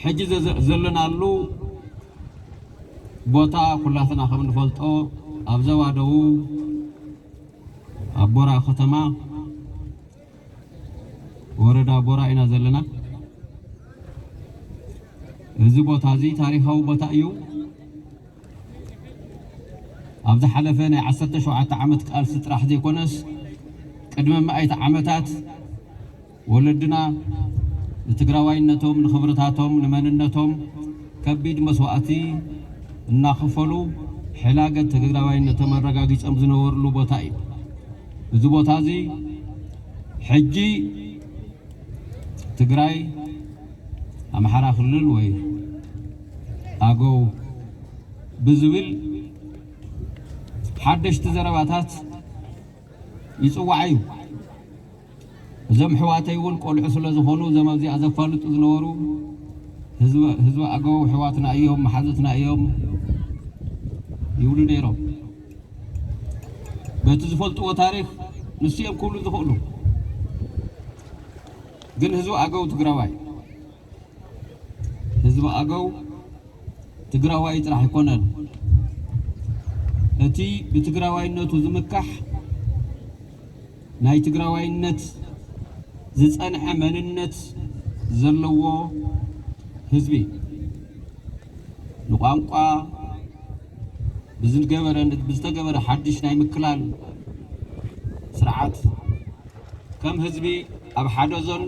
ሕጂ ዘሎናሉ ቦታ ኩላትና ከም ንፈልጦ ኣብ ዞባ ደቡብ ኣብ ቦራ ከተማ ወረዳ ቦራ ኢና ዘለና። እዚ ቦታ እዚ ታሪኻዊ ቦታ እዩ። ኣብ ዝሓለፈ ናይ 17 ዓመት ቃልሲ ጥራሕ ዘይኮነስ ቅድሚ መኣይቲ ዓመታት ወለድና ንትግራዋይነቶም፣ ንኽብርታቶም፣ ንመንነቶም ከቢድ መስዋእቲ እናኸፈሉ ሕላገት ትግራዋይነቶም ኣረጋጊፆም ዝነበርሉ ቦታ እዩ። እዚ ቦታ እዚ ሕጂ ትግራይ፣ ኣምሓራ ክልል ወይ ኣገው ብዝብል ሓደሽቲ ዘረባታት ይፅዋዕ እዩ። እዞም ኣሕዋተይ እውን ቆልዑ ስለ ዝኾኑ እዞም ኣብዚኣ ዘፋልጡ ዝነበሩ ህዝቢ ኣገው ኣሕዋትና እዮም መሓዙትና እዮም ይብሉ ነይሮም። በቲ ዝፈልጥዎ ታሪክ ንሱ እዮም ክብሉ ዝኽእሉ። ግን ህዝቢ ኣገው ትግራዋይ ህዝቢ ኣገው ትግራዋይ ጥራሕ ኣይኮነን። እቲ ብትግራዋይነቱ ዝምካሕ ናይ ትግራዋይነት ዝፀንሐ መንነት ዘለዎ ህዝቢ ንቋንቋ ብዝገበረ ብዝተገበረ ሓዱሽ ናይ ምክላል ስርዓት ከም ህዝቢ ኣብ ሓደ ዞን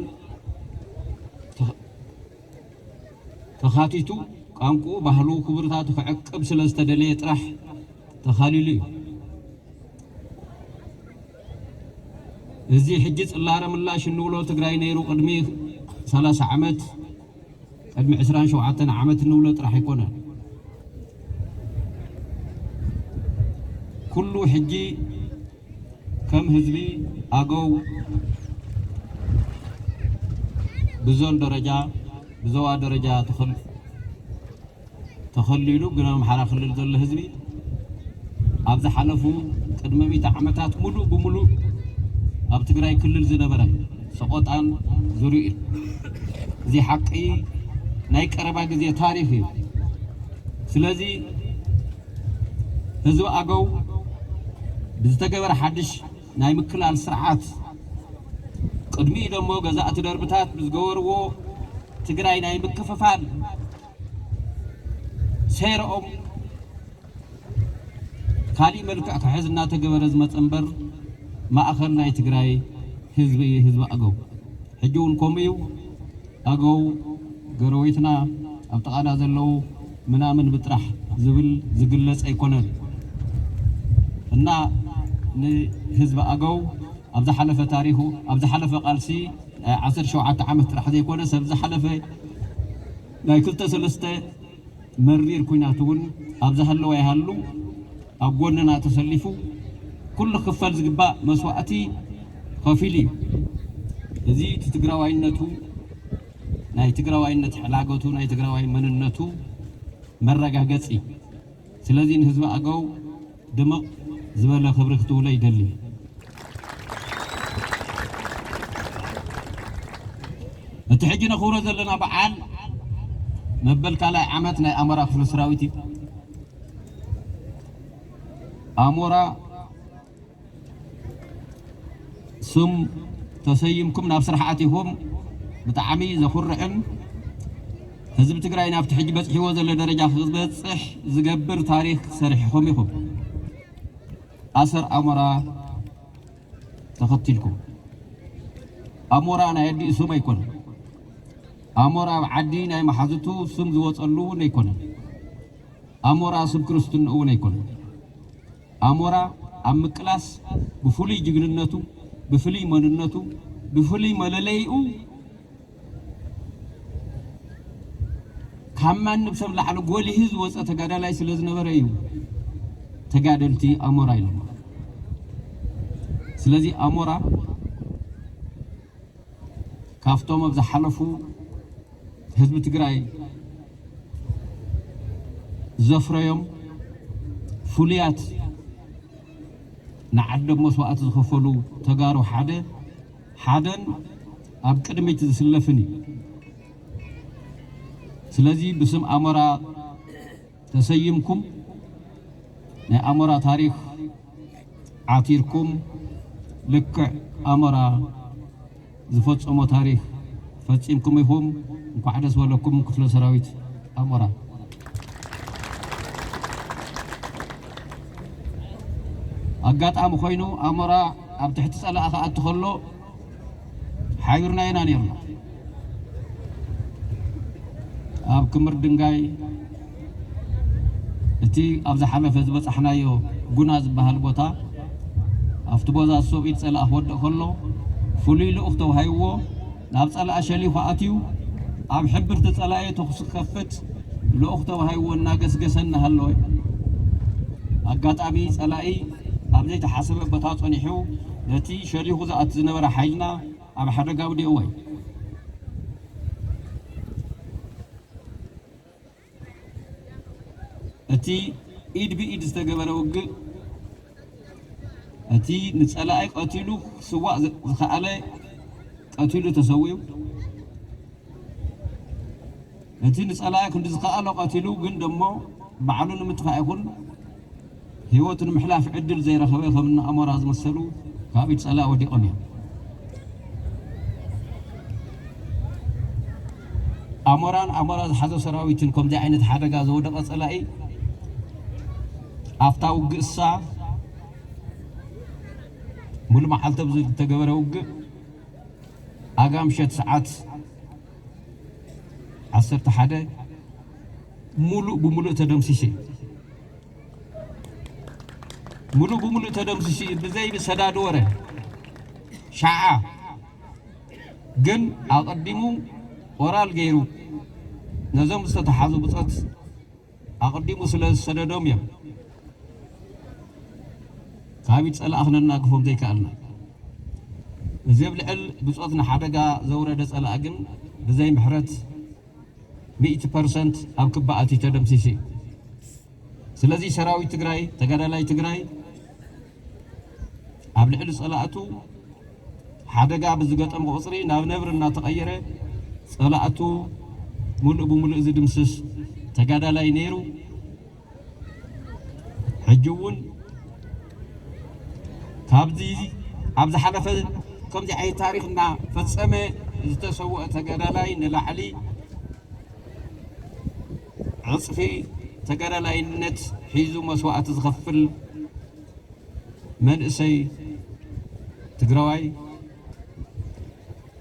ተኻቲቱ ቛንቁኡ ባህሉ ክብርታቱ ክዕቅብ ስለ ዝተደለየ ጥራሕ ተኻሊሉ እዩ። እዚ ሕጂ ጽላረ ምላሽ እንብሎ ትግራይ ነይሩ ቅድሚ ሰላሳ ዓመት ቅድሚ ዕስራን ሸውዓተን ዓመት እንብሎ ጥራሕ ኣይኮነን። ኩሉ ሕጂ ከም ህዝቢ ኣገው ብዞን ደረጃ ብዞባ ደረጃ ተኸሊሉ ግን ኣምሓራ ክልል ዘሎ ህዝቢ ኣብ ዝሓለፉ ቅድሚ ሚእቲ ዓመታት ሙሉእ ብሙሉእ ኣብ ትግራይ ክልል ዝነበረ ሰቆጣን ዙርዩኡን እዚ ሓቂ ናይ ቀረባ ግዜ ታሪኽ እዩ። ስለዚ ህዝቢ ኣገው ብዝተገበረ ሓድሽ ናይ ምክላል ስርዓት ቅድሚኡ ደሞ ገዛእቲ ደርብታት ብዝገበርዎ ትግራይ ናይ ምክፍፋል ሴረኦም ካሊእ መልክዕ ክሕዝ እናተገበረ ዝመፀ እምበር ማእኸል ናይ ትግራይ ህዝቢ እዩ ህዝቢ ኣገው ሕጂ እውን ከምኡ እዩ። ኣገው ገረወይትና ኣብ ጥቓና ዘለው ምናምን ብጥራሕ ዝብል ዝግለጽ ኣይኮነን እና ንህዝቢ ኣገው ኣብ ዝሓለፈ ታሪኹ ኣብ ዝሓለፈ ቃልሲ ናይ ዓሰርተ ሸውዓተ ዓመት ጥራሕ ዘይኮነ ሰብ ዝሓለፈ ናይ ክልተ ሰለስተ መሪር ኩናት እውን ኣብ ዝሃለወ ይሃሉ ኣብ ጎንና ተሰሊፉ ኩሉ ክኽፈል ዝግባእ መስዋእቲ ኸፊሉ እዩ። እዚ እቲ ትግራዋይነቱ ናይ ትግራዋይነት ሕላገቱ ናይ ትግራዋይ መንነቱ መረጋገፂ ስለዚ ንህዝቢ ኣገው ድምቕ ዝበለ ክብሪ ክትውለ ይደሊ። እቲ ሕጂ ነኽብሮ ዘለና በዓል መበል ካልኣይ ዓመት ናይ ኣሞራ ክፍለ ሰራዊት እዩ። ኣሞራ ስም ተሰይምኩም ናብ ስራሕ ኣቲኹም ብጣዕሚ ዘኹርዕን ህዝቢ ትግራይ ናብቲ ሕጂ በፅሒዎ ዘሎ ደረጃ ክበፅሕ ዝገብር ታሪክ ሰሪሕኹም ኢኹም ኣሰር ኣሞራ ተኸቲልኩም ኣሞራ ናይ ኣዲኡ ስም ኣይኮነን። ኣሞራ ኣብ ዓዲ ናይ መሓዝቱ ስም ዝወፀሉ እውን ኣይኮነን። ኣሞራ ስም ክርስትንኡ እውን ኣይኮነን። ኣሞራ ኣብ ምቅላስ ብፍሉይ ጅግንነቱ፣ ብፍልይ መንነቱ፣ ብፍልይ መለለይኡ ካብ ማንም ሰብ ላዕሊ ጎሊሁ ዝወፀ ተጋዳላይ ስለዝነበረ እዩ ተጋደልቲ ኣሞራ ኢሎሞ። ስለዚ ኣሞራ ካፍቶም ኣብ ዝሓለፉ ህዝቢ ትግራይ ዘፍረዮም ፍሉያት ንዓዶም መስዋእቲ ዝኸፈሉ ተጋሩ ሓደ ሓደን ኣብ ቅድሚት ዝስለፍን እዩ። ስለዚ ብስም ኣሞራ ተሰይምኩም ናይ ኣሞራ ታሪኽ ዓቲርኩም ልክዕ ኣሞራ ዝፈጸሞ ታሪኽ ፈጺምኩም ኢኹም እንኳዕ ደስ በለኩም ክፍለ ሰራዊት ኣሞራ። ኣጋጣሚ ኮይኑ ኣሞራ ኣብ ትሕቲ ጸላኢ ክኣቲ ከሎ ሓቢርና ኢና ነይርና። ኣብ ክምር ድንጋይ እቲ ኣብ ዝሓለፈ ዝበጻሕናዮ ጉና ዝበሃል ቦታ ኣብቲ ቦዛ ሶብ ኢድ ጸላእ ክወድቕ ከሎ ፍሉይ ልኡኽ ተዋሂብዎ ናብ ጸላእ ሸሊኹ ኣትዩ ኣብ ሕብርቲ ጸላኢ ተኹሲ ክኸፍት ልኡኽ ተዋሂብዎ እናገስገሰ እናሃለወ ኣጋጣሚ ጸላኢ ኣብ ዘይተሓሰበ ቦታ ጸኒሑ ነቲ ሸሊኹ ዝኣቲ ዝነበረ ሓይልና ኣብ ሓደጋ ኣውዲቕዎ እዩ። እቲ ኢድ ብኢድ ዝተገበረ ውግእ እቲ ንጸላኢ ቀቲሉ ክስዋእ ዝኸኣለ ቀቲሉ ተሰዊኡ፣ እቲ ንጸላኢ ክንዲ ዝኸኣሎ ቀቲሉ ግን ደሞ ባዕሉ ንምጥፋእ ይኹን ህይወቱ ንምሕላፍ ዕድል ዘይረኸበ ከም እኒ ኣሞራ ዝመሰሉ ካብ ኢድ ጸላኢ ወዲቖም እዮም። ኣሞራን ኣሞራ ዝሓዞ ሰራዊትን ከምዚ ዓይነት ሓደጋ ዝወደቐ ጸላኢ ኣብታ ውግእሳ ሙሉ መዓልቲ ኣብ ዝተገበረ ውግእ ኣጋ ምሸት ሰዓት ዓሰርተ ሓደ ሙሉእ ብሙሉእ ተደምሲሱ እዩ። ሙሉእ ብሙሉእ ተደምሲሱ እዩ ብዘይ ብሰዳድ ወረ ሻዓ ግን ኣቐዲሙ ኦራል ገይሩ ነዞም ዝተተሓዙ ብፆት ኣቐዲሙ ስለ ዝሰደዶም እዮም ካብ ኢድ ፀላእ ክነናግፎም ዘይከኣልና እዚ ኣብ ልዕል ብፆት ንሓደጋ ዘውረደ ፀላእ ግን ብዘይ ምሕረት ሚእቲ ፐርሰንት ኣብ ክባ ኣትዩ ተደምሲሱ እዩ ስለዚ ሰራዊት ትግራይ ተጋዳላይ ትግራይ ኣብ ልዕሊ ፀላእቱ ሓደጋ ብዝገጠሞ ቁፅሪ ናብ ነብሪ እናተቐየረ ፀላእቱ ሙሉእ ብሙሉእ ዝድምስስ ተጋዳላይ ነይሩ። ሕጂ እውን ካብዚ ኣብ ዝሓለፈ ከምዚ ዓይነት ታሪክ እናፈፀመ ዝተሰወአ ተጋዳላይ ንላዕሊ ዕፅፊ ተጋዳላይነት ሒዙ መስዋእቲ ዝኸፍል መንእሰይ ትግራዋይ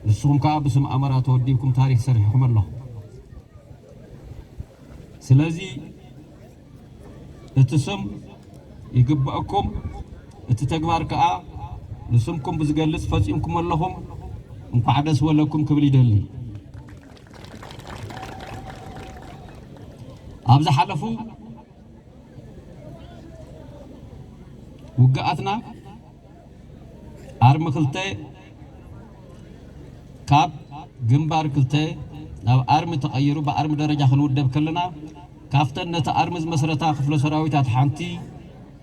ንስኹም ከዓ ብስም ኣመራ ተወዲብኩም ታሪክ ሰሪሕኹም ኣለኹም። ስለዚ እቲ ስም ይግበእኩም እቲ ተግባር ከኣ ንስምኩም ብዝገልጽ ፈጺምኩሞ ኣለኹም እንኳዕ ደስ ወለኩም ክብል ይደሊ። ኣብ ዝሓለፉ ውግኣትና ኣርሚ ክልተ ካብ ግንባር ክልተ ናብ ኣርሚ ተቐይሩ ብኣርሚ ደረጃ ክንውደብ ከለና ካብተን ነቲ ኣርሚ ዝመስረታ ክፍለ ሰራዊታት ሓንቲ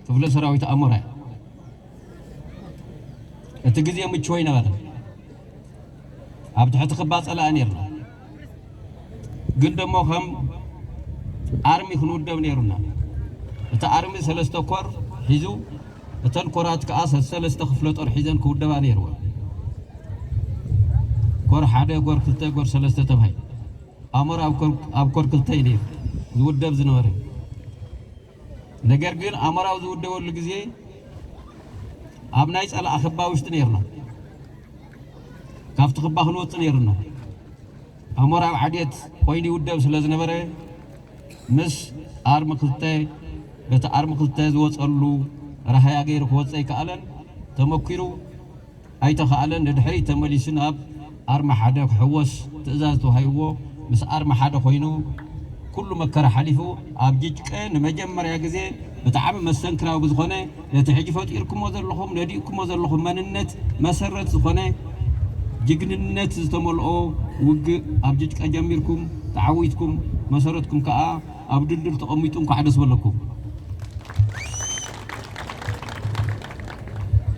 ክፍለ ሰራዊት ኣሞራ እያ። እቲ ግዜ ምቹው ኣይነበረን። ኣብ ትሕቲ ክባ ጸላኢ ነርና። ግን ደሞ ከም ኣርሚ ክንውደብ ነይሩና እቲ ኣርሚ ሰለስተ ኮር ሒዙ እተን ኮራት ከዓ ሰለስተ ክፍለ ጦር ሒዘን ክውደባ ነይርወን ኮር ሓደ ጎር ክልተ ጎር ሰለስተ ተባሂሉ ኣሞራ ኣብ ኮር ክልተ እዩ ነይሩ ዝውደብ ዝነበረ ነገር ግን ኣሞራው ዝውደበሉ ግዜ ኣብ ናይ ጸላኢ ክባ ውሽጢ ነይርና። ካብቲ ክባ ክንወጽእ ነይሩና። ኣሞራ ኣብ ዓድየት ኮይኑ ይውደብ ስለ ዝነበረ ምስ ኣርሚ ክልተ በቲ ኣርሚ ክልተ ዝወጸሉ ራህያ ገይሩ ክወጽእ ኣይከኣለን። ተመኲሩ። ኣይተኻእለን ንድሕሪት ተመሊሱ ናብ ኣርማ ሓደ ክሕወስ ትእዛዝ ተዋሂብዎ ምስ ኣርማ ሓደ ኮይኑ ኩሉ መከራ ሓሊፉ ኣብ ጅጭቀ ንመጀመርያ ግዜ ብጣዕሚ መስተንክራዊ ብዝኾነ ነቲ ሕጂ ፈጢርኩሞ ዘለኹም ነዲእኩሞ ዘለኹም መንነት መሰረት ዝኾነ ጅግንነት ዝተመልኦ ውግእ ኣብ ጅጭቀ ጀሚርኩም ተዓዊትኩም መሰረትኩም ከኣ ኣብ ድልድል ተቐሚጡ እንኳዕ ደስ በለኩም።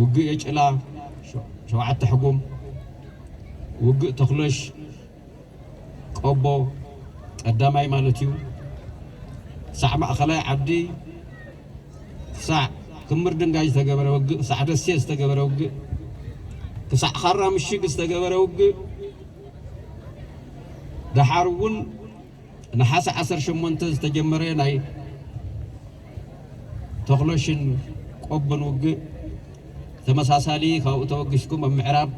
ውግእ የጭላ ሸውዓተ ሕጉም፣ ውግእ ተኹለሽ ቆቦ ቀዳማይ ማለት እዩ፣ ክሳዕ ማእኸላይ ዓዲ፣ ክሳዕ ክምር ድንጋይ ዝተገበረ ውግእ፣ ክሳዕ ደሴ ዝተገበረ ውግእ፣ ክሳዕ ኻራ ምሽግ ዝተገበረ ውግእ ደሓር እውን ነሓሰ ዓሰርተ ሸሞንተ ዝተጀመረ ናይ ተኽሎሽን ቆቦን ውግእ ተመሳሳሊ ካብኡ ተበጊስኩም ኣብ ምዕራብ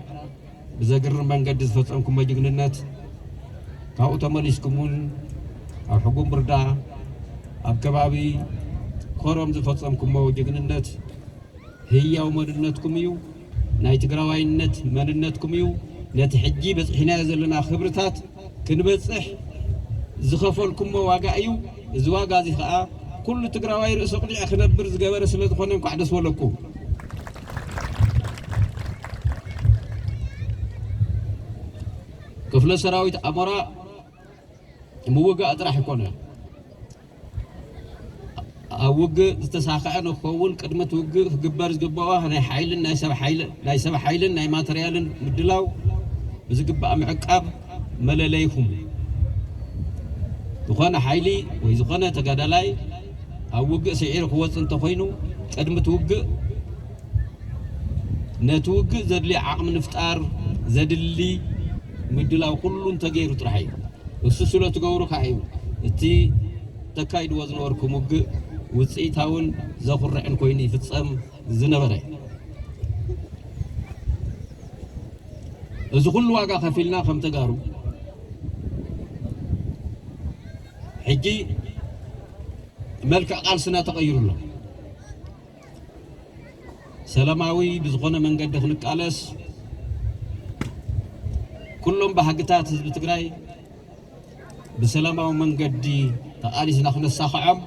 ብዘግርም መንገዲ ዝፈጸምኩሞ ጅግንነት ካብኡ ተመሊስኩም እውን ኣብ ሕጉምብርዳ ኣብ ከባቢ ኮረም ዝፈጸምኩሞ ጅግንነት ህያው መንነትኩም እዩ። ናይ ትግራዋይነት መንነትኩም እዩ ነቲ ሕጂ በጽሒናዮ ዘለና ክብርታት ክንበጽሕ ዝኸፈልኩሞ ዋጋ እዩ እዚ ዋጋ እዚ ከኣ ኩሉ ትግራዋይ ርእሰ ቁጢዐ ክነብር ዝገበረ ስለ ዝኾነ እንኳዕ ደስ በለኩም። ክፍለ ሰራዊት ኣሞራ ምውጋእ ጥራሕ ኣይኮነን። ኣብ ውግእ ዝተሳኸዐ ንክኸውን ቅድሚ እቲ ውግእ ክግበር ዝግበኦ ናይ ሓይልን ናይ ሰብ ሓይልን ናይ ማተርያልን ምድላው ብዝግባእ ምዕቃብ መለለይኹም ዝኾነ ሓይሊ ወይ ዝኾነ ተጋዳላይ ኣብ ውግእ ስዒሩ ክወፅእ እንተኾይኑ ቅድሚ እቲ ውግእ ነቲ ውግእ ዘድልዮ ዓቕሚ ንፍጣር ዘድሊ ምድላው ኩሉ እንተገይሩ ጥራሕ እዩ። እሱ ስለትገብሩ ከኣ እዩ እቲ ተካይድዎ ዝነበርኩም ውግእ ውጽኢታውን ዘኹርዕን ኮይኑ ይፍጸም ዝነበረ። እዚ ኩሉ ዋጋ ከፊልና ከም ተጋሩ ሕጂ መልክዕ ቃልስና ተቐይሩ ኣሎ። ሰላማዊ ብዝኾነ መንገዲ ክንቃለስ ኩሎም ባህግታት ህዝቢ ትግራይ ብሰላማዊ መንገዲ ተቓሊስና ክነሳኽዖም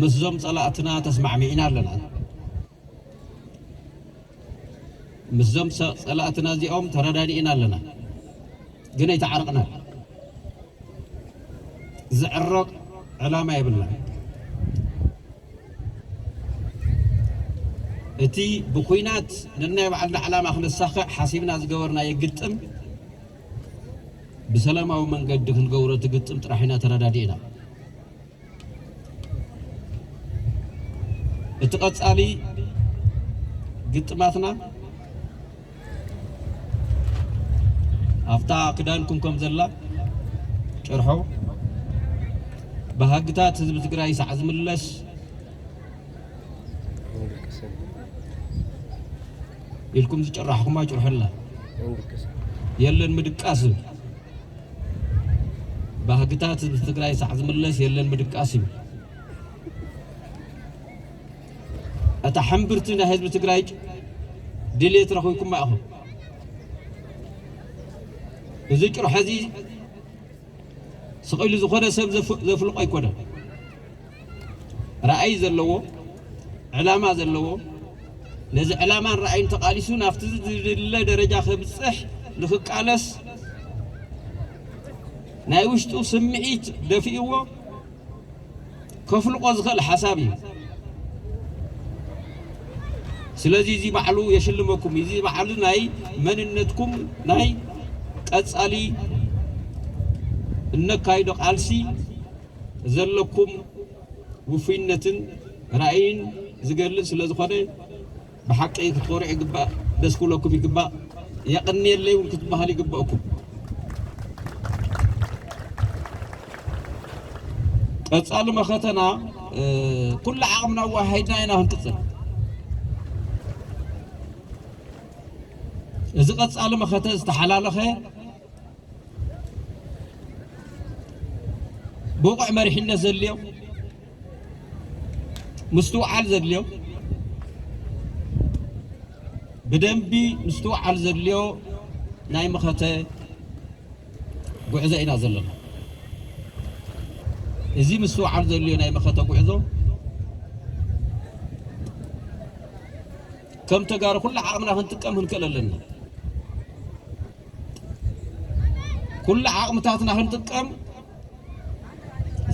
ምስዞም ፀላእትና ተስማዕሚዕና ኣለና። ምስዞም ፀላእትና እዚኦም ተረዳዲእና ኣለና፣ ግን ኣይተዓረቕናን። ዝዕረቕ ዕላማ የብልናን። እቲ ብኩናት ነናይ ባዕልና ዕላማ ክነሳኽዕ ሓሲብና ዝገበርናዮ ግጥም ብሰላማዊ መንገዲ ክንገብሮ እቲ ግጥም ጥራሕ ኢና ተረዳዲእና። እቲ ቀጻሊ ግጥማትና ኣብታ ክዳንኩም ከም ዘላ ጭርሖ ባህግታት ህዝቢ ትግራይ ሳዕ ዝምለስ ኢልኩም ዝጨራሕኹማ ጭርሖ ኣላ የለን ምድቃስ ዝብል ባህግታት ህዝቢ ትግራይ ሳዕ ዝምለስ የለን ምድቃስ እዩ። እታ ሕምብርቲ ናይ ህዝቢ ትግራይ ድሌት ረኺብኩማ ኢኹም። እዚ ጭርሖ እዚ ስቕ ኢሉ ዝኾነ ሰብ ዘፍልቆ ኣይኮነን። ራእይ ዘለዎ፣ ዕላማ ዘለዎ፣ ነዚ ዕላማን ራእይን ተቓሊሱ ናብቲ ዝድለ ደረጃ ከብጽሕ ንክቃለስ ናይ ውሽጡ ስምዒት ደፊእዎ ከፍልቆ ዝኽእል ሓሳብ እዩ። ስለዚ እዚ ባዕሉ የሽልመኩም እዚ ባዕሉ ናይ መንነትኩም ናይ ቀጻሊ እነካይዶ ቃልሲ ዘለኩም ውፉይነትን ራእይን ዝገልጽ ስለ ዝኾነ ብሓቂ ክትኾርዑ ይግባእ፣ ደስ ክብለኩም ይግባእ፣ የቕንየለይ እውን ክትበሃሉ ይግበእኩም። ቀጻሊ መኸተና ኩሉ ዓቕምና ኣዋሃሂድና ኢና ክንቅጽል። እዚ ቀጻሊ መኸተ ዝተሓላለኸ ብቑዕ መሪሕነት ዘድልዮ ምስትውዓል ዘድልዮ ብደንቢ ምስትውዓል ዘድልዮ ናይ መኸተ ጉዕዞ ኢና ዘለና እዚ ምስትውዓል ዘድልዮ ናይ መኸተ ጉዕዞ ከም ተጋሩ ኩሉ ዓቕምና ክንጥቀም ክንክእል ኣለና ኩሉ ዓቕምታትና ክንጥቀም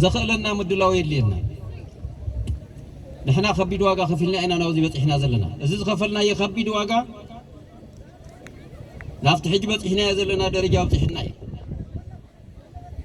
ዘኽእለና ምድላው የድልየና። ንሕና ከቢድ ዋጋ ከፊልና ኢና ናብዚ በፂሕና ዘለና። እዚ ዝኸፈልናዮ ከቢድ ዋጋ ናብቲ ሕጂ በፂሕናዮ ዘለና ደረጃ ኣብፂሕና እዩ።